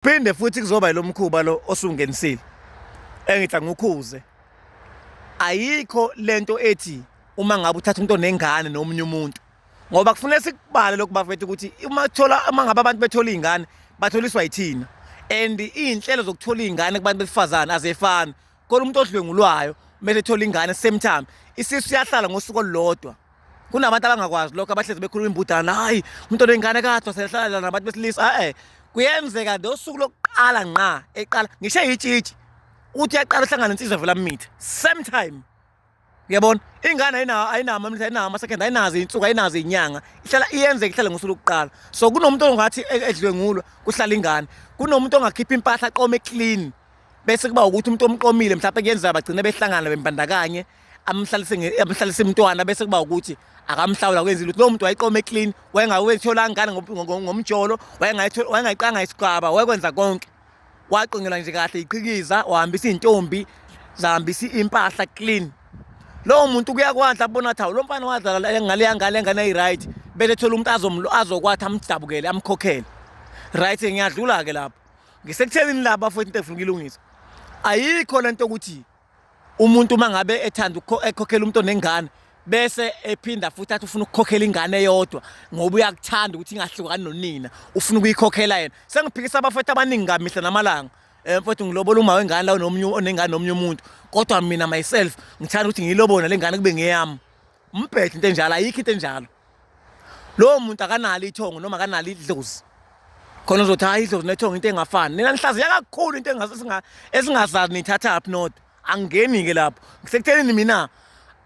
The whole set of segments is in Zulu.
Phinde futhi kuzoba yilomkhuba lo osungenisile. Engitha ngukhuze. Ayikho lento ethi uma ngabe uthatha umuntu onengane nomunye umuntu. Ngoba kufanele sikubale lokhu bafethu ukuthi uma thola uma ngabe abantu bethola izingane batholiswa yithina. And izinhlelo zokuthola izingane kubantu besifazane azefani. kodwa umuntu odlwengulwayo kumele ethole ingane same time isisu siyahlala ngosuku olulodwa kunabantu abangakwazi lokho abahlezi bekhuluma imbudana hayi umuntu onengane kathwa sehlala nabantu besilisa e-e kuyenzeka nje usuku lokuqala nqa eqala ngisho yitshitshi uthi yaqala uhlangana insizwa vela mitha same time uyabona ingane ayinawo ayinawo amamlisa ayinawo ama-second ayinazo iy'nsuku ayinazo iy'nyanga ihlala iyenzeka ihlale ngosuku lokuqala so kunomuntu ongathi e-, edlwengulwa kuhlala ingane kunomuntu ongakhipha impahla aqome clean bese kuba ukuthi umuntu omqomile mhlawumbe kuyenzeka bagcine behlangana bembandakanye amhlalise umntwana bese kuba ukuthi akamhlawula kwenza lutho lowo muntu wayiqome clean wayengawethola ngane ngomjolo wayengayiqanga isigaba wayekwenza konke waqonyelwa nje kahle iqhikiza wahambisa izintombi zahambisa impahla clean lowo muntu kuyakwadla bona thawu lo mfana wadlala ngale yangale engane ayi-right bese thola umuntu azokwathi amdabukele amkhokhele right ngiyadlula-ke lapho ngisekuthelini laba futhi into efuna ukuyilungisa ayikho le nto ukuthi Umuntu uma ngabe ethanda ekhokhela umuntu onengane bese ephinda futhi athi ufuna ukukhokhela ingane eyodwa ngoba uyakuthanda ukuthi ingahlukani nonina ufuna ukuyikhokhela yena sengiphikisa abafethu abaningi kamihla namalanga eh mfethu ngilobola uma wengane lawo nomunye onengane nomunye umuntu kodwa mina myself ngithanda ukuthi ngiyilobona lengane kube ngeyami umbhede into enjalo ayikho into enjalo lowo muntu akanalo ithongo noma akanalo idlozi khona uzothi hayi idlozi nethongo into engafani nina nihlaziya kakhulu into esingazazi niyithathaphi not angingeni-ke lapho ngisekuthenini mina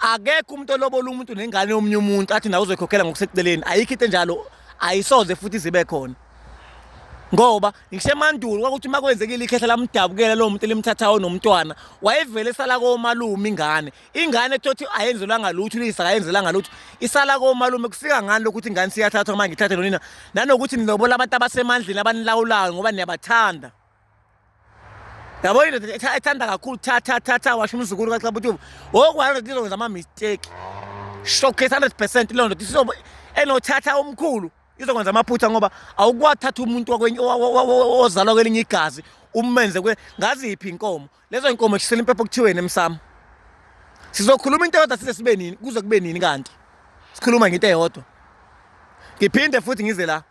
akekho umuntu olobola umuntu nengane yomunye umuntu athi nawe uzoyikhokhela ngokuseceleni ayikho into enjalo ayisoze futhi zibe khona ngoba ngisemandulo kwakuthi uma kwenzekile ikhehla lamdabukela lowo muntu elimthathayo nomntwana wayevele esala komalume ingane ingane thothi ayenzelwanga lutho uyise akayenzelanga lutho isala komalume kufika ngani lokuthi ingane siyathathwa uma ngithathe nonina nanokuthi nilobola abantu abasemandleni abanilawulayo ngoba niyabathanda yabo indoda ethanda kakhulu tha tha tha tha washo umzukulu kaxabutuba wokwalo ndoda izokwenza ama-mistake showcase hundred percent leyo ndoda isizobe enothatha omkhulu izokwenza amaphutha ngoba awukwathatha umuntu ozalwa kwelinye igazi umenze ngazi yiphi inkomo Lezo inkomo shisela impepho kuthiweni emsamo. Sizokhuluma into eyodwa size sibe nini kuze kube nini kanti. Sikhuluma ngento eyodwa. Ngiphinde futhi ngize la.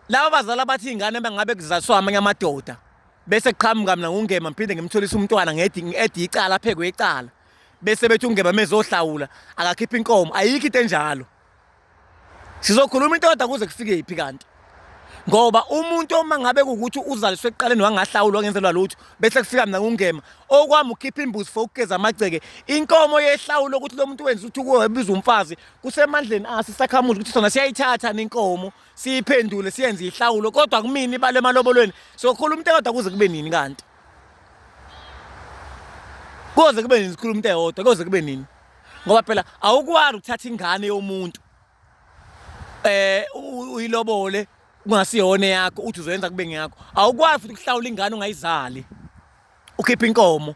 Laba bazali abathi ingane bangabe kuzaswa amanye amadoda. Bese qhamuka mina ngungema ngiphinde ngimtholisa umntwana ngedi ngedi icala aphekwe icala. Bese bethi ungema mezohlawula akakhipha inkomo ayikho into enjalo. Sizokhuluma intoda kuze kufike phi kanti? ngoba umuntu uma ngabe kukuthi uzaliswe ekuqaleni wangahlawulwa ngenzelwa lutho bese kufika mina ngungema okwami ukhipha imbuzi for ukugeza amagceke inkomo yehlawulo ukuthi lo muntu wenza ukuthi ukubiza umfazi kusemandleni asi sakhamuzi ukuthi sona siyayithatha nenkomo siyiphendule siyenze ihlawulo kodwa kumina ibale emalobolweni sokhuluma umuntu kodwa kuze kube nini kanti koze kube nini sikhuluma umuntu eyodwa koze kube nini ngoba phela awukwani ukuthatha ingane yomuntu eh uyilobole kungasiyona yakho uthi uzoyenza kube ngeyakho awukwazi futhi ukuhlawula ingane ungayizali ukhipha inkomo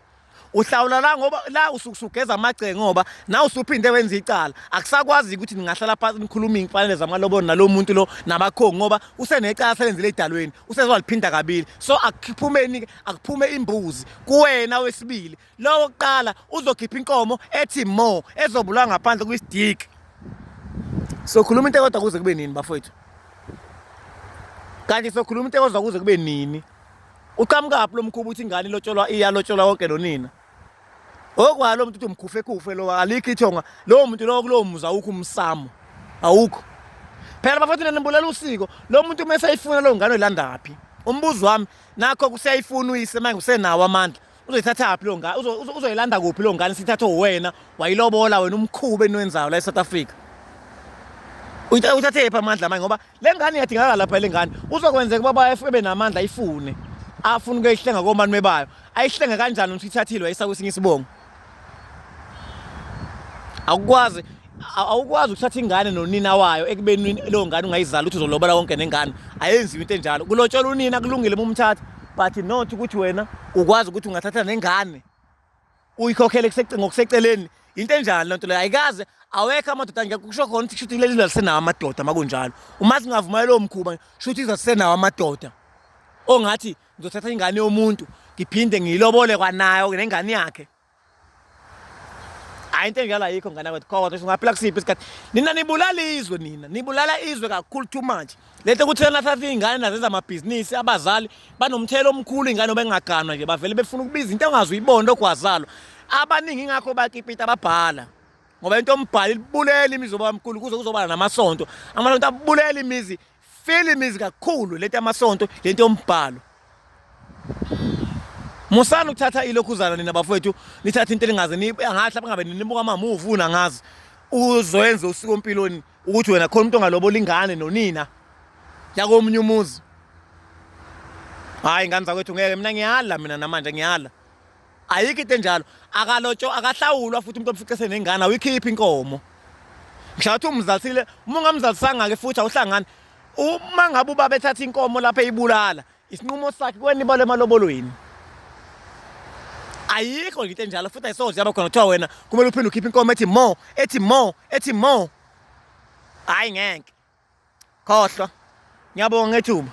uhlawula la ngoba la usugeza amagce ngoba na usuphinde wenza icala akusakwazi ukuthi ningahlala phansi nikhulume imfanele zamalobolo nalomuntu lo nabakhongi ngoba usenecala selenzile edalweni usezwaliphinda kabili so akuphumeni akuphume imbuzi kuwena wesibili Lowo kuqala uzokhipha inkomo ethi mo ezobulwa ngaphandle kwistick. Sokhuluma into kodwa kuze kube nini bafowethu? Kanti sokhuluma into kodwa kuze kube nini? Uqhamukaphi lo mkhuba uthi ingane ilotsholwa iyalotsholwa konke lonina? Okwalo lo muntu uthi umkhufe kufe lo alikho ithonga. Lowo muntu lowo kulowo muzi awukho umsamo. Awukho. Phela bafowethu nanibulela usiko. Lo muntu uma esayifuna lo ngane uyilandaphi? Umbuzo wami nakho kuseyayifuna uyise manje usenawo amandla. uzoyithathaphi lo ngane uzoyilanda kuphi lo ngane sithathe uwena wayilobola wena umkhuba eniwenzayo la e-south africa uthathephi amandla manje ngoba le ngane iyadingakala lapha le ngane uzokwenzeka uba bayefebe namandla ayifune afune ukuyihlenga komani mebayo ayihlenge kanjani ukuthi ithathile wayisa kwesinye isibongo awukwazi awukwazi ukuthatha ingane nonina wayo ekubeni leyo ngane ungayizali ukuthi uzolobola konke nengane ayenziwe into enjalo kulotshola unina kulungile uma umthatha but not ukuthi wena ukwazi ukuthi ungathatha nengane uyikhokhele ngokuseceleni into enjalo lento leyo ayikaze awekho amadoda ngeke kusho khona ukuthi shuthi leli lalisenawo amadoda makunjalo uma singavumayela lowo mkhuba shuthi izasisenawo amadoda ongathi ngizothatha ingane yomuntu ngiphinde ngiyilobole kwanayo nengane yakhe hayi into enjalo ayikho ngane kwethu kodwa ukuthi ungaphila kusiphi isikhathi nina nibulala izwe nina nibulala izwe kakhulu too much le nto ukuthi nathatha iy'ngane nazenza amabhizinisi abazali banomthelo omkhulu iy'ngane obengaganwa nje bavele befuna ukubiza into engazi uyibona ogwazalo abaningi ingakho bakipita ababhala ngoba into ombhali libulele imizi obamkhulu kuze kuzobala namasonto amasonto abulele imizi Filimi zikakhulu lento yamasonto lento yombhalo. Musani ukuthatha ilokhuzana nina bafowethu nithatha into elingaze ngathi lapha ngabe nibuka ama movie una ngazi uzoyenza usiko empilweni ukuthi wena khona umuntu ongalobola ingane nonina yakomunye umuzi hayi ngane zakwethu ngeke mina ngiyala mina namanje ngiyala ayikho into enjalo akalotsho akahlawulwa futhi umuntu omfice senengane awikhiphi inkomo ngishathi umzalisile uma ungamzalisanga-ke futhi awuhlangani uma ngabe ubaba ethatha inkomo lapho eyibulala isinqumo sakhe kwenibala emalobolweni ayikho into enjalo futhi ayisoze yaba khona kuthiwa wena kumele uphinde ukhiphe inkomo ethi mo ethi mo ethi mo hhayi ngeke khohlwa ngiyabonga ngethuba